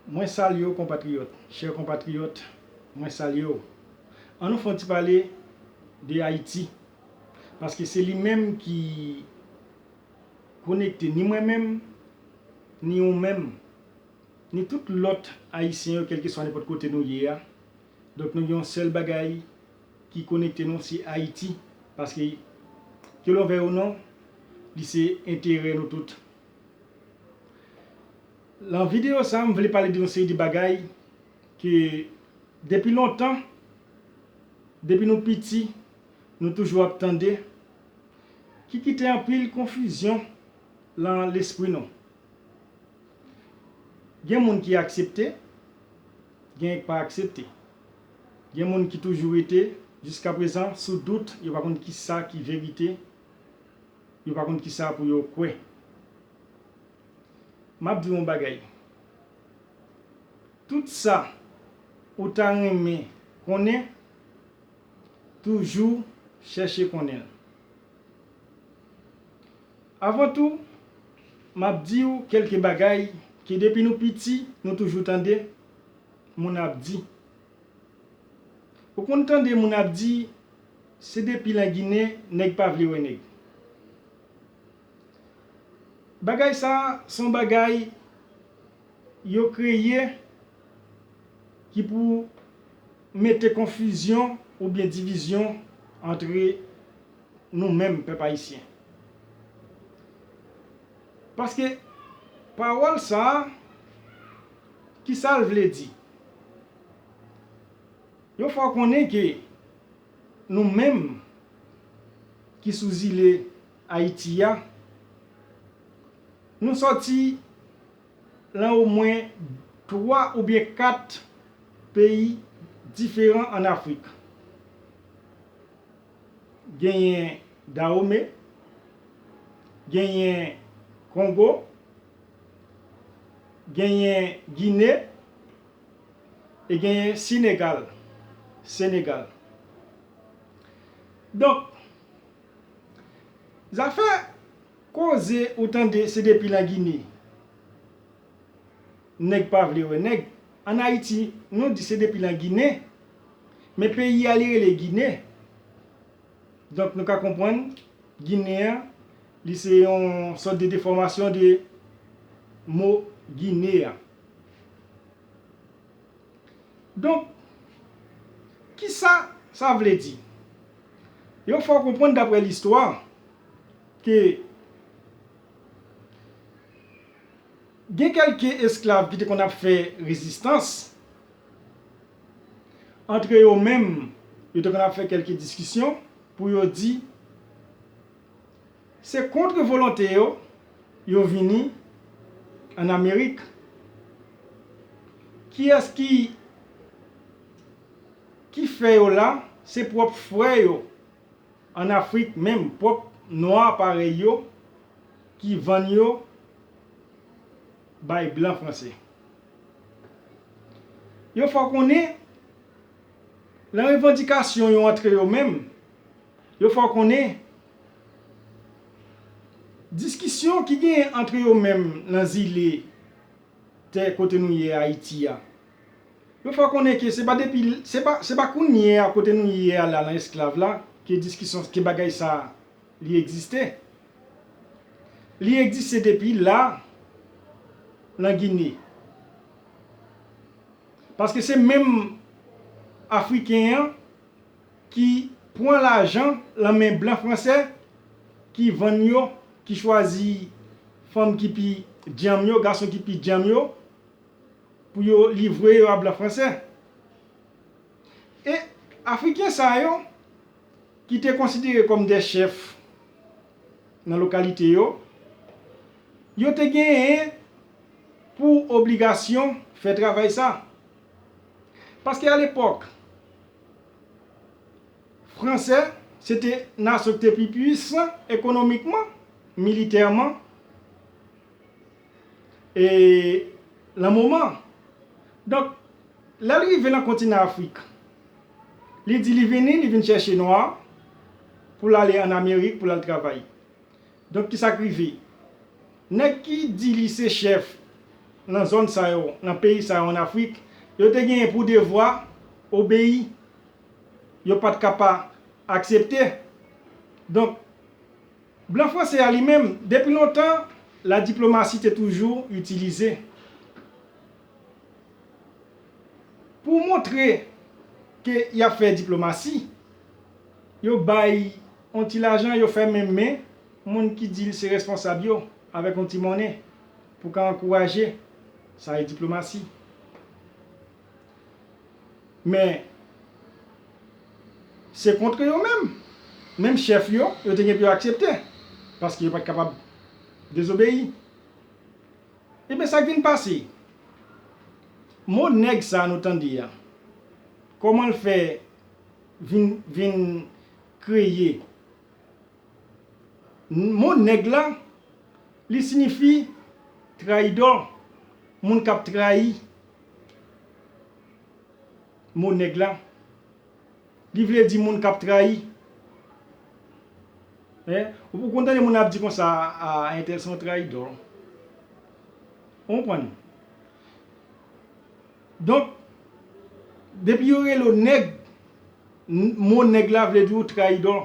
Mwen salye w konpatriyòt. Chè konpatriyòt, mwen salye w. An nou fè yon ti pale de Ayiti, paske se li menm ki konekte ni mwen menm, ni ou menm, ni tout lòt Ayisyen yo kèlkeswa nenpòt kote nou ye a. Donk nou gen yon sèl bagay ki konekte nou, se Ayiti, paske ke lon vèy ou non, li se enterè nou tout Lan video sa m vle pale de yon seri de bagay ke depi lontan, depi nou piti nou toujou ap tande ki kite anpil konfizyon lan lespri nou. Gen moun ki aksepte, genyen k pa aksepte. Gen moun ki toujou rete jiskaprezan sou dout yo pa konn kisa ki verite. Yo pa konn kisa pou yo kwè. Map diw yon bagay. Tout sa ou ta renmen konnen toujou chèche konnen l. Avan tou map diw kelke bagay ke depi nou piti nou toujou tande moun ap di. Ou konn tande moun ap di Se depi lan gine neg pa vle wè neg. Bagay sa son bagay yo kreye ki pou mete konfizyon ou byen divizyon antre nou menm pèp ayisyen. Paske pawol sa kisal vle di? Yo fè w konnen ke nou menm ki sou zile Ayiti a, nou sòti lan omwen 3 oubyen 4 peyi diferan an Afrik. Genyen Dawome, genyen Kongo, genyen Gine, E genyen Sinegal, Senegal. Donk, zafè koze ou tande se depi lan Gine nèg pa vle wè nèg. An Ayiti, nou di se depi lan Gine, men peyi a li rele Gine. Donk nou ka konprann Ginen an, li se yon sòt de defòmasyon de mo Gine an. Donk, ki sa sa vle di? Yo fè w konprann dapre listwa ke gen kèlke esklav ki te konn ap fè rezistans, antre yo menm yo te konn ap fè kèlke diskisyon pou yo di, Se kontre volonte yo, yo vini an Amerik. Kiyès ki ki fè yo la? Se pwòp frè yo an Afrik menm, pwòp nwa parèy yo ki vann yo bay blan franse. Yo fè w konnen, lan revandikasyon yo antre yo menm, Yo fè w konnen diskisyon ki genyen antre yo menm nan zile tè kote nou ye Ayiti a. Yo fè w konnen ke se pa depi, se pa, se pa kounye a kote nou ye a la nan esklav la ke diskisyon, ke bagay sa a li egziste. Li egziste depi la nan Gine. Paske se menm Afriken an ki pwan lajan lan men blan fransè ki vann yo ki chwazi fanm ki pi dyanm yo gason ki pi dyanm yo pou yo livre yo a blan fransè e afriken sa yo ki te konsidere kòm de chèf nan lokalite yo yo te genyen pou obligasyon fè travay sa. Paske alepòk, Franse se te nasyon ki te pi pwisan ekonomikman, militèman, e lan moman. Donk, lè l rive lan kontinan Afrik, li di li vini, li vin chèche nwa, pou l ale an Amerik, pou l al travay. Donk ki sa k rive? Nèg ki di li se chèf nan zòn sa yo, nan peyi sa yo ann Afrik, yo te genyen pou devwa obeyi. Yo pa t ka pa aksepte. Donk, blan franse a li menm, depi lontan, ladiplomasi te toujou itilize. Pou montre ke y ap fè diplomasi, yo bay yon ti lajan, yo fèmen men moun ki di l se responsab yo avèk yon ti monnen pou ka ankouraje. Sa e diplomasi. Men, se kontre yo menm, menm chèf yo, yo te gen pou yo aksepte, paske yo pa t kapab dezobeyi. Ebyen sak vin pase? Mo nèg sa nou tande a, kòman l fè vin vin kreye? Mo nèg la, li sinifi trayidò, moun kap trayi. Mo nèg la. Li vle di moun kap trayi. Ou konn tande moun ap di konsa a entèl se yon trayidò. Ou konprann? Donk, depi yo rele w nèg, mo nèg la vle di ou trayidò.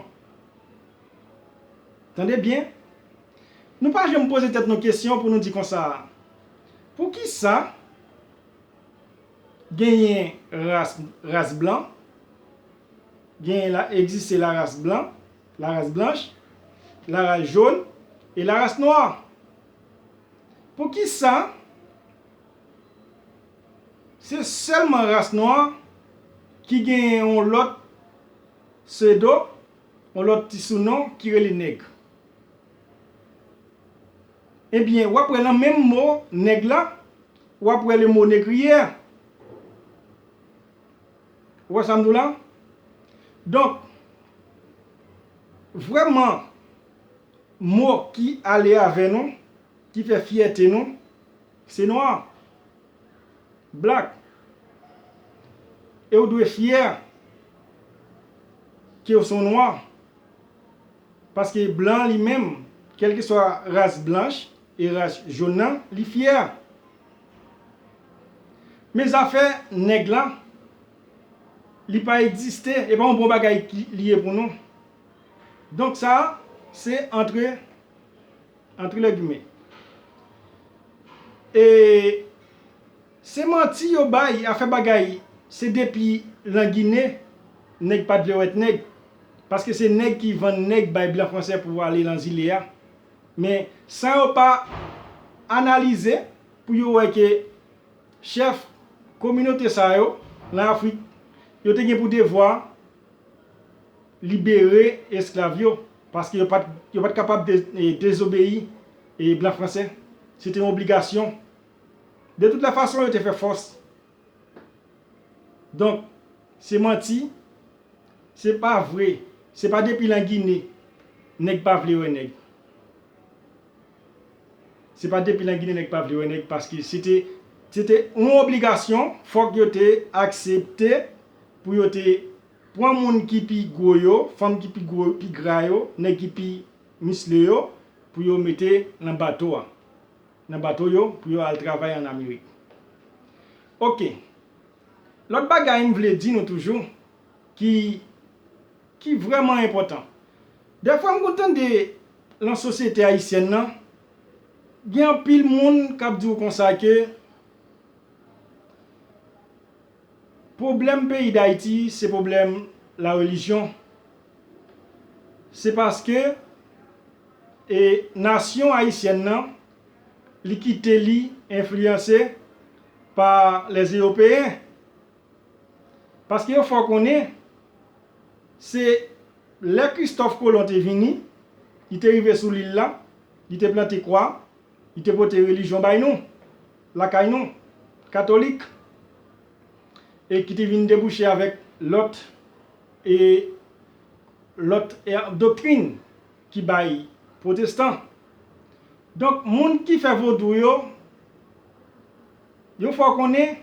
Tande byen. Nou pa janm poze tèt nou kesyon pou nou di konsa a. Poukisa? Genyen ras ras blan. Genyen la egziste la ras blan, la ras blanch, la ras jon e la ras nwa. Pou ki sa se sèlman ras nwa ki genyen yon lòt pseudo, yon lòt ti sounon ki rele nèg? Ebyen wap wè lan menm mo nèg la Wap wè lemone kriye a. Ou wè sam diw la? Donk vrèman mo ki ale avè nou, ki fè fyète nou, se nwa, black. E ou dwe fyè kew son nwa. Paske blan li menm, kèlkeswa ras blanch, E ras jaune nan li fier. Men zafè nèg la li pa egziste e pa yon bon bagay li ye pou nou. Donk sa se antre antre lè gimè. E se manti yo bay a fè bagay se depi lan gine nèg pat vle wèt nèg. Paske se nèg ki vann nèg bay blan fransè pou ale lan zile a. Men san yo pa analize pou yo wè ke chèf kominote sa yo lan Afrik yo te gen pou devwa libere esklav yo paske yo pa t kapab dezobeyi blan franse. Se te yon obligasyon. De tout lè fason yo te fè fòs. Donk se manti, se pa vre, se pa depi lan Gine nèg pa vle wè nèg. Se pa depi lan Gine nèg pa vle wè nèg paske se te se te yon obligasyon fòk yo te aksepte pou yo te pran moun ki pi gwo yo, fanm ki pi gwo, pi gra yo, nèg ki pi misle yo pou yo mete lan bato a. nan bato yo pou yo al travay an Amerik. Ok. Lòt bagay m vle di nou toujou ki ki vrèman enpòtan. Dèfwa m konn tande lan sosyete ayisyèn nan gen anpil moun k ap di w konsa ke pwoblèm peyi Dayiti se pwoblèm larelijyon. se paske e nasyon ayisyèn nan li kite li enfliyanse pa lè ewopeyen paske yo fè w konnen se lè kristòf kolon te vini li te rive sou lil la li te plante kwa li te pote relijyon bay nou lakay nou katolik e ki te vin debouche avèk lòt E lòt doktrin ki bay pwotestan. Donk moun ki fè vodou yo, yo fè w konnen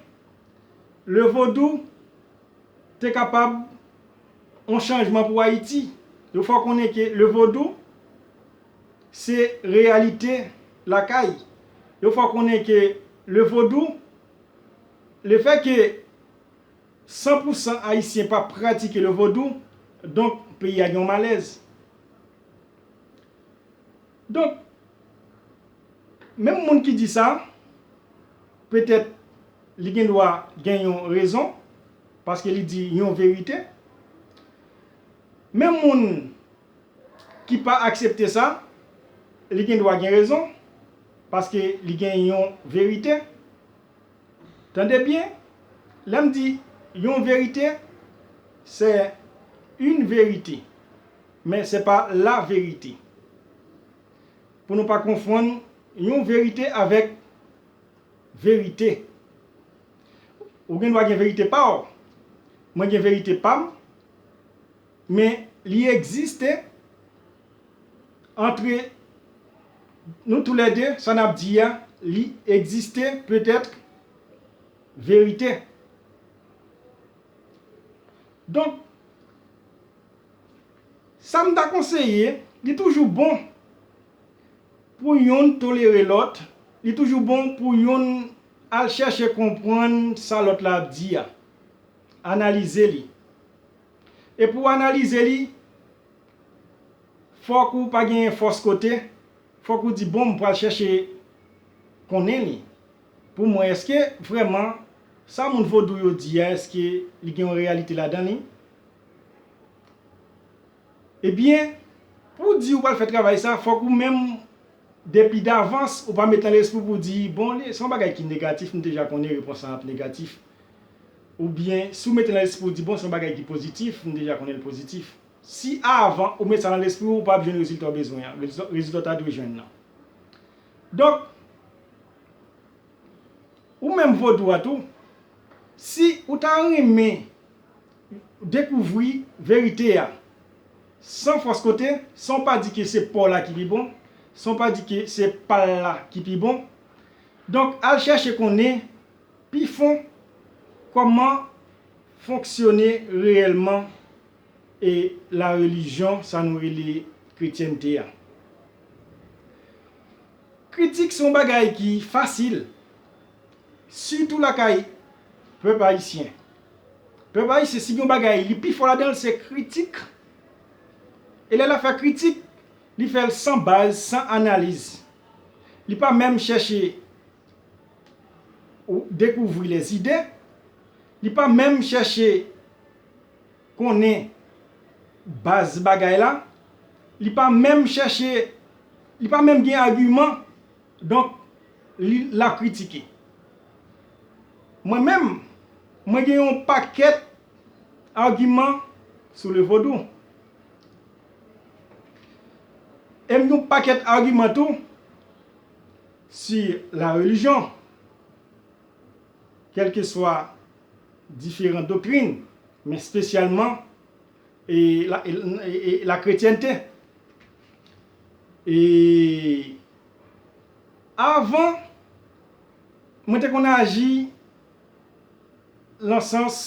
le vodou te kapab yon chanjman pou Ayiti. Yo fè w konnen ke le vodou se reyalite lakay. Yo fè w konnen ke le vodou, le fè ke San pou san ayisyen pa pratike le vodou, donk peyi a gen yon malèz. Donk, menm moun ki di sa, petèt li gen dwa gen yon rezon, paske li di yon verite. Menm moun ki pa aksepte sa, li gen dwa gen rezon, paske li gen yon verite. Tande byen, lè m di yon verite, se yn verite, men se pa la verite. Pou nou pa konfonn yon verite avèk verite. Ou gen dwa gen verite pa w, mwen gen verite pa m, Men li egziste antre Nou tou lè 2 sa nap di a li egziste petèt verite donk sa m ta konseye li toujou bon pou youn tolere lòt li toujou bon pou youn al chèche konprann sa lòt la ap di a analize li. E pou w analize li, fòk ou pa gen fòs kote, fòk ou di bon m pral chèche konnen li pou m wè èske vrèman sa moun vodou yo di a èske li gen yon reyalite ladan li. Ebyen, pou w di ou pral fè travay sa fòk ou menm depi davans ou pa met nan lespri w pou w di bon se yon bagay ki negatif m deja konnen repons lan ap negatif. Ou byen, si ou mete nan lespri ou di bon se yon bagay ki pozitif, m deja konnen l pozitif. Si avan ou met sa nan lespri ou, ou pa ap jwenn rezilta ou bezwen an, rezilta ou ta dwe jwenn nan. Donk, ou menm vodou a tou, si ou ta renmen dekouvri verite a san fòs kote, san ou pa di ke se pa w la ki pi bon, san ou pa di ke se pa l la ki pi bon, donk al chèche konnen Pi fon, kòman fonksyone reyèlman e la relijyon sa nou rele kretyènte a? Kritik se yon bagay ki fasil, sitou lakay pèp ayisyen. Pèp ayisyen si gen yon bagay li pi fò ladan l se kritik. E lè l ap fè kritik, li fè l san baz, san analiz. Li pa menm chèche Ou dekouvri les idées. Li pa menm chèche konnen baz bagay la. Li pa menm chèche, li pa menm gen agiman. Donk, li, l ap kritike. Mwen menm, mwen gen yon pakèt agiman sou le vodou. E m gen yon pakèt agiman tou. Sou la relijyon, kèlkeswa diferan doktrin, men spesyalman la kretyènte, e avan mwen te konn aji lan sans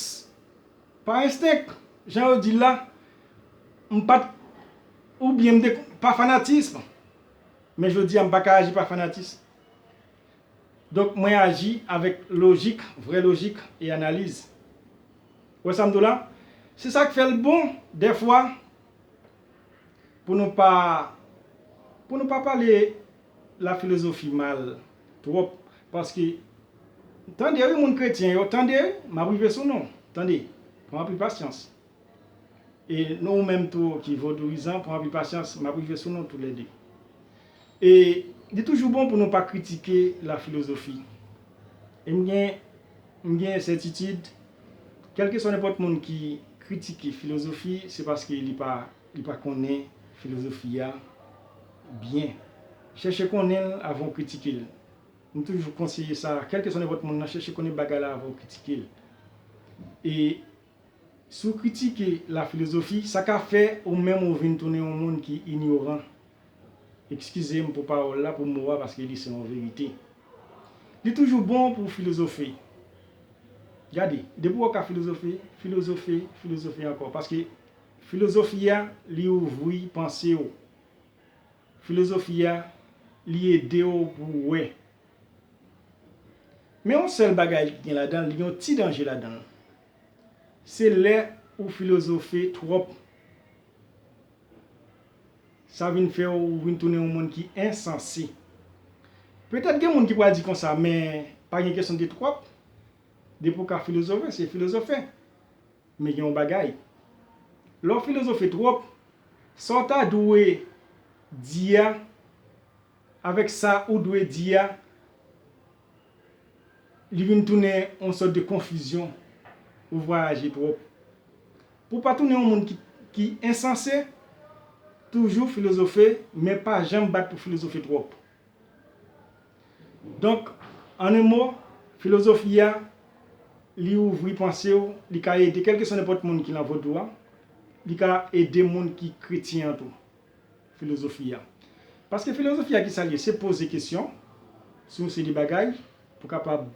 pa enstenk, jan yo di l la, m pa t, oubyen m te, pa fanatism. Men jodi a m pa ka aji pa fanatism. Donk mwen aji avèk lojik, vrè lojik e analiz. Ou wè sa m di w la? Se sa k fè l bon dèfwa pou nou pa pou nou pa pale lafilozofi mal twòp paske tande wi moun kretyen yo, tande, m ap rive sou nou, tande, pran anpil pasyans. E nou ou menm tou ki vodouizan pran anpil pasyans map rive sou nou tou lè 2. E li toujou bon pou nou pa kritike la filozofi. E m gen m gen sètitid kèlkeswa nenpòt moun ki kritike filozofi se paske li pa li pa konnen filozofi a byen. Chèche konnen l avan ou kritike l. M toujou konseye sa kèlkeswa nenpòt moun nan chèche konnen bagay la avan ou kritike l. E Si w kritike lafilozofi, sa ka fè ou menm ou vin tounen yon moun ki inyoran. Ekskize m pou pawòl la, pou mo a paske li se yon verite. Li toujou bon pou w filozofe. Gade, depi w wè w ka filozofe, filozofe, filozofe ankò. Paske filozofi a, li ouvri panse w. Filozofi a, li ede w pou w wè. Men yon sèl bagay ki gen ladan l yon ti danje ladan l. Se lè ou filozofe twòp. Sa vin fè w vin tounen yon moun ki ensanse. Petèt gen moun ki pral di konsa men pa gen kesyon de twòp. Depi ou ka filozofe se filozofe. Men gen yon bagay. Lè w filozofe twòp, sa w ta dwe di a. Avèk sa ou dwe di a, li vin tounen yon sòt de konfizyon, ou vwayaje twòp. Pou w pa tounen yon moun ki ensanse, toujou filozofe men pa janm bat pou filozofe twòp. Donk, an en mo, filozofi a, li ouvri panse w, li ka ede kèlkeswa nenpòt moun ki lan Vodou a, li ka ede moun ki kretyen an tou. filozofi a. Paske filozofi a ki sa l ye? Se poze kesyon sou yon seri bagay pou kapab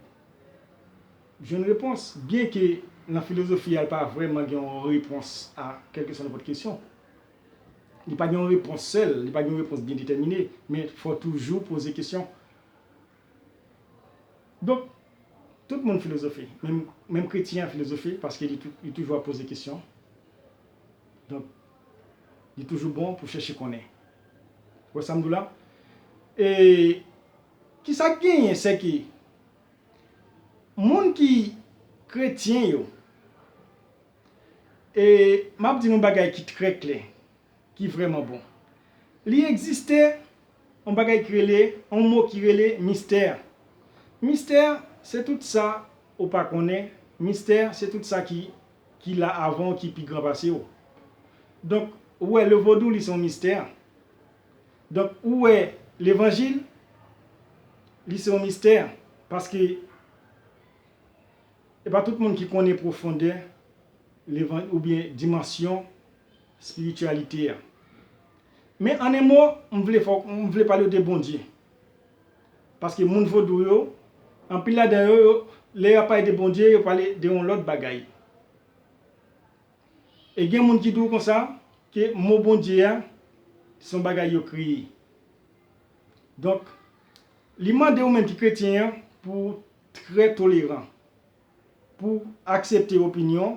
jwenn repons. Byenke nan filozofi a l pa vrèman gen yon repons a kèlkeswa nenpòt kesyon. Li pa gen yon repons sèl, li pa gen yon repons byen detèmine, men fò w toujou poze kesyon. Donk, tout moun filozofe, menm kretyen an filozofe paske li toujou ap poze kesyon. Donk. Li toujou bon pou chèche konnen. Ou wè sa m di w la? E ki sa k genyen se ke moun ki kretyen yo, e m ap di nou yon bagay ki trè klè, ki vrèman bon. Li egziste yon bagay ki rele, yon mo ki rele mistè. Mistè se tout sa ou pa konnen, mistè se tout sa ki. ki la avan w ki pi gran pase w donk ou wè le vodou li se yon mistè donk ou wè levanjil li se yon mistè paske e pa tout moun ki konnen pwofondè levanjil ou byen dimansyon espirityalite a men an en mo m vle fò m vle pale w de bondye Paske moun vodou yo, anpil ladan yo, yo, lè y ap pale de Bondye, yo pale de yon lòt bagay. E gen moun ki di w konsa, ke mo Bondye a, se yon bagay yo kreye. Donk, li mande ou menm ki kretyen an, pou w trè toleran. pou aksepte opinyon,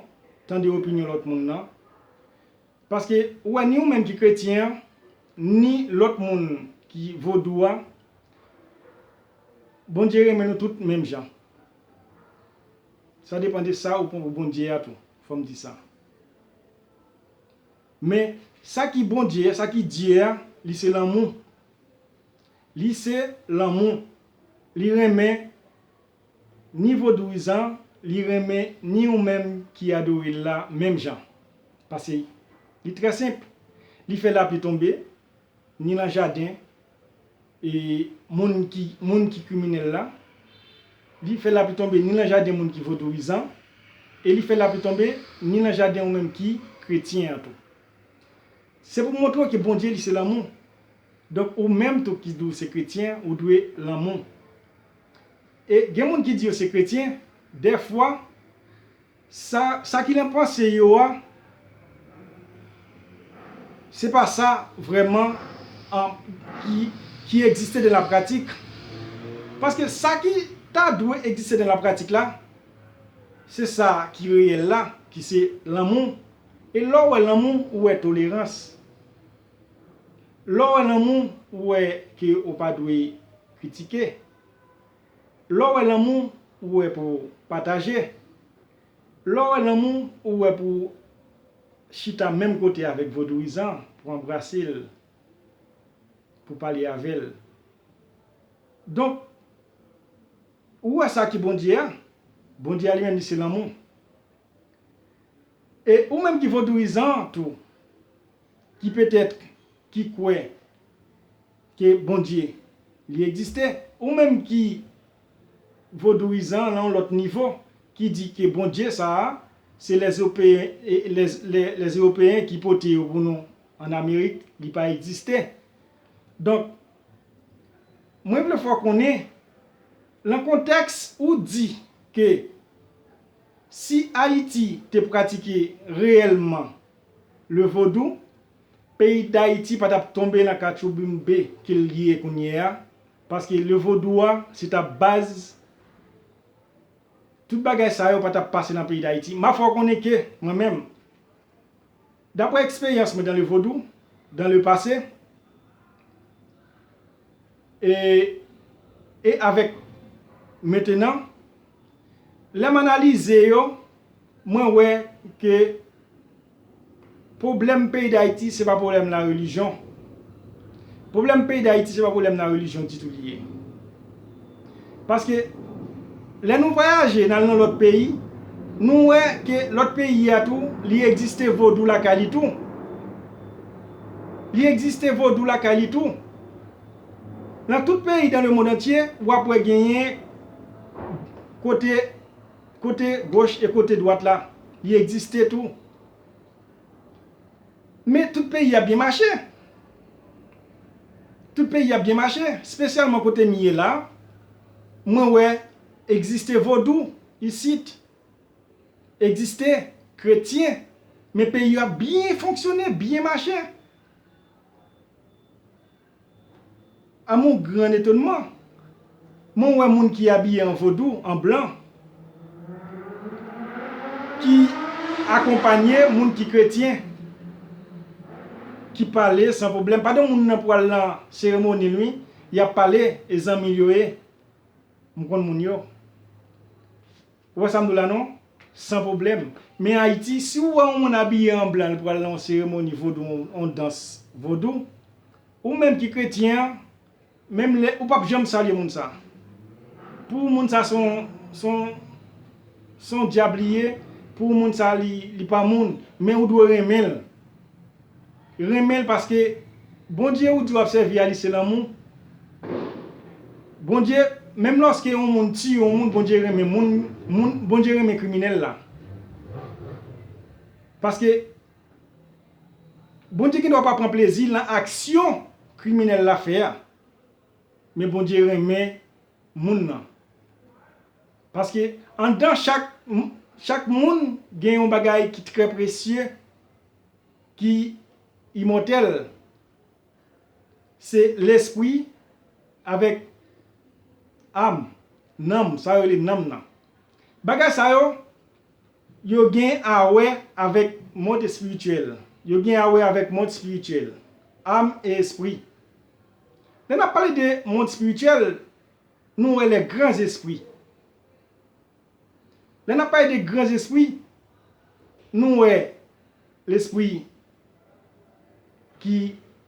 tande opinyon lòt moun nan. Paske ou wè ni ou menm ki kretyen an, ni lòt moun ki vodou a, Bondye renmen nou tout menm jan. Sa depan de sa ou pran pou Bondye a tou, fò m di sa. Men, sa ki Bondye a, sa ki Dye a, li se lanmou. Li se lanmou. Li renmen Ni vodouyizan li renmen ni ou menm ki adore l la menm jan. Pase li trè senp, li fè lapli tonbe ni lan jaden e moun ki moun ki kriminèl la, li fè lapli tonbe ni lan jaden moun ki vodouyizan e li fè lapli tonbe ni lan jaden ou menm ki kretyen an tou. Se pou montre w ke Bondye li se lanmou. Donk ou menm tou ki di w se kretyen ou dwe lanmou. E gen moun ki di yo se kretyen, dèfwa, sa, sa ki nan panse yo a, se pa sa vrèman an, ki, ki egziste nan lapratik. Paske sa ki ta dwe egziste nan lapratik la, se sa ki reyèl la, ki se lanmou. E lè w wè lanmou, ou wè tolerans. Lè w wè lanmou, ou wè ke ou pa dwe. Kritike. Lè w wè lanmou ou wè pou pataje. Lè w wè lanmou ou wè pou chita menm kote avèk vodouyizan pou anbrase l, pou pale avè l. Donk, ou wè sa ki Bondye a, Bondye a li menm li se lanmou. E ou menm ki vodouyizan tou, ki petèt ki kwè Ke Bondye li egziste. Ou menm ki vodouizan lan yon lòt nivo ki di ke Bondye sa a se lè ewopeyen lè ewopeyen ki pote yo pou nou an amerik li pa egziste donk mwen vle fè w konnen lan kontèks ou di ke si ayiti te pratike reyèlman le vodou Peyi dayiti pa tap tonbe nan katchouboumbe ke l ye kounye a, paske le vodou a se tap baz tout bagay sa yo pa tap pase nan peyi dayiti. Ma fè w konnen ke mwen menm, daprè eksperyans mwen dan le vodou, dan le pase, E, e avèk mentenan, lè m analize yo, mwen wè ke pwoblèm peyi Dayiti se pa pwoblèm la relijyon. Pwoblèm peyi Dayiti se pa pwoblèm la relijyon ditou li ye. Paske lè nou vwayaje nal nan lòt peyi nou wè ke lòt peyi a tou li egziste vodou lakay li tou li egziste vodou lakay li tou nan tout peyi dan le mond antye wap wè genyen kote kote goch e kote dwat la li egziste tou Men tout peyi ap byen mache. Tout peyi ap byen mache. Spesyalman kote m ye la, mwen wè egziste vodou isit, egziste kretyen, men peyi yo ap byen fonksyone, byen mache. A mon gran etonman, mwen wè moun ki abiye an vodou, an blan, ki akonpanye moun ki kretyen, ki pale san pwoblèm. Pa de moun nan pou al nan seremoni l wi, y ap pale, e zanmi l yo ye. M konn moun yo. Ou wè sam dou la non? San pwoblèm. Men Ayiti, si ou wè yon moun abiye an blan li pral nan yon seremoni vodou yon dans vodou, ou menm ki kretyen an, menm lè ou pap janm salye moun sa. Pou ou moun sa se yon se yon se yon dyab li ye, pou ou moun sa li li pa moun, men ou dwe renmen l. Renmen l paske Bondye ou di wap sèvi a li se lanmou Bondye menm lòske yon moun tiye yon moun Bondye renmen moun moun Bondye renmen kriminèl la paske Bondye gen dwa pa pran plezi nan aksyon kriminèl la fè a men Bondye renmen moun nan paske anndan chak chak moun gen yon bagay ki trè presye ki imòtèl se lespri avèk am, nanm, sa yo rele nanm nan. Bagay sa yo, yo gen a wè avèk mond espirityèl, yo gen a wè avèk mond espirityèl, am e espri. Lè n ap pale de mond espirityèl, nou wè lè gran zespri, Lè n ap pale de gran zespri, nou wè lespri ki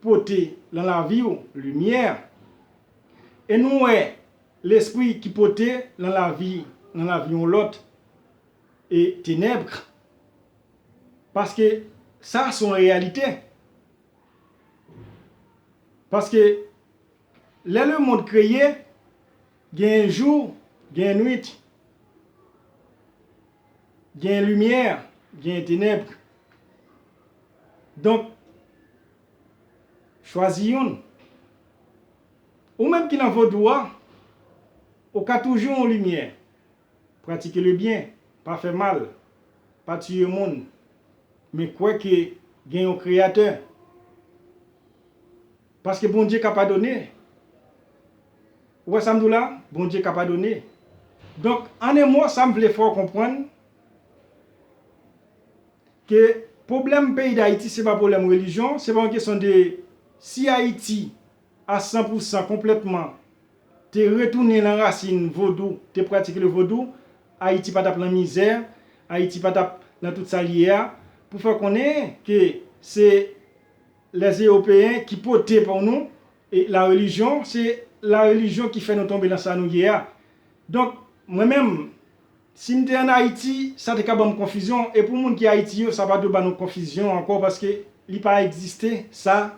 pote lan lavi ou limyè, e nou wè lespri ki pote lan lavi lan lavi yon lòt e tenèbr, paske sa s on reyalite. Paske lè lemond kreye, Gen jou, gen nwit. Gen limyè, gen tenèbre. Donk, chwazi youn. Ou menm ki nan vodou a, ou ka toujou yon limyè. Pratike le byen, pa fè mal, pa tiye moun, men kwè ke gen yon Kreyatè. Paske Bondye ka padone. Ou wè sa m di w la? Bondye ka padone. Donk, an en mo, sa m vle fè w konprann, ke pwoblèm peyi Dayiti se pa pwoblèm relijyon, se pa yon kesyon de si Ayiti a san pou san, konplètman, te retounen nan rasin vodou, te pratike le vodou, Ayiti pa t ap nan mizè, Ayiti pa t ap nan tout sa l ye a, pou fè konnen ke se lèzewopeyen ki pote pou nou la relijyon, se la relijyon ki fè nou tonbe nan sa nou ye a. Donk, mwen menm, si m te an Ayiti, sa te ka ban m konfizyon, e pou moun ki Ayiti yo, sa pa dwe ban nou konfizyon ankò, paske li pa egziste sa.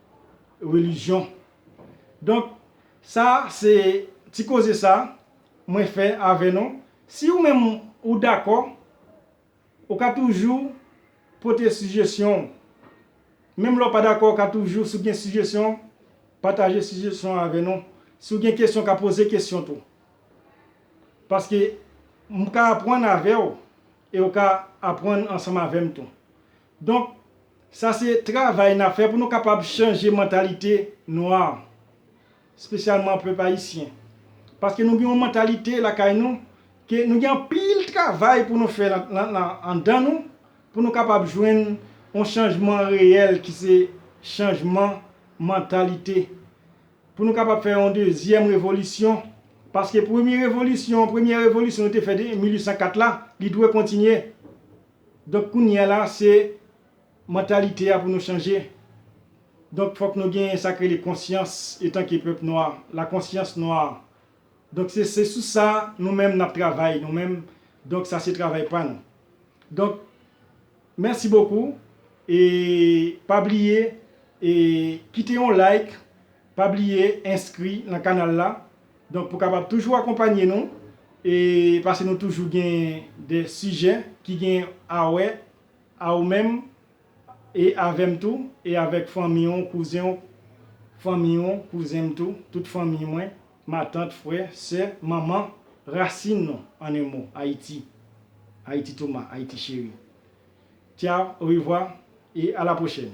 relijyon. Donk sa se ti koze sa mwen fè avè nou. Si ou menm ou dakò, ou ka toujou pote sijesyon ou. Menm lè ou pa dakò ou ka toujou si ou gen sijesyon pataje sijesyon an avè nou. Si ou gen kesyon ou ka poze kesyon tou. Paske m ka apwann avè ou e ou ka apwann ansanm avè m tou. Donk, sa se travay n ap fè pou nou kapab chanje mantalite nwa, spesyalman pèp ayisyen. Paske nou gen yon mantalite lakay nou ke nou gen anpil travay pou nou fè anndan nou pou nou kapab jwenn yon chanjman reyèl ki se chanjman mantalite. Pou nou kapab fè yon dezyèm revolisyon. Paske premye revolisyon, premyè revolisyon nou te fè 1804 la, li dwe kontinye. Donk kounyea la se mantalite a pou nou chanje. Donk fòk nou genyen sak rele konsyans etanke pèp nwa, la conscience noire. Donk se se sou sa nou menm nap travay nou menm, donk sa se travay pa nou. Donk mèsi bokou e pa bliye e kite yon like Pa bliye enskri nan kanal la donk pou kapab toujou akonpanye nou e pase nou toujou gen de sijè ki gen awè a ou menm e avèm tou e avèk fanmi w kouzen w fanmi w kouzen m tou tout fanmi mwen matant frè sè manman rasin nou an en mo ayiti ayiti toma ayiti cheri tchao orevwa e alaprochèn.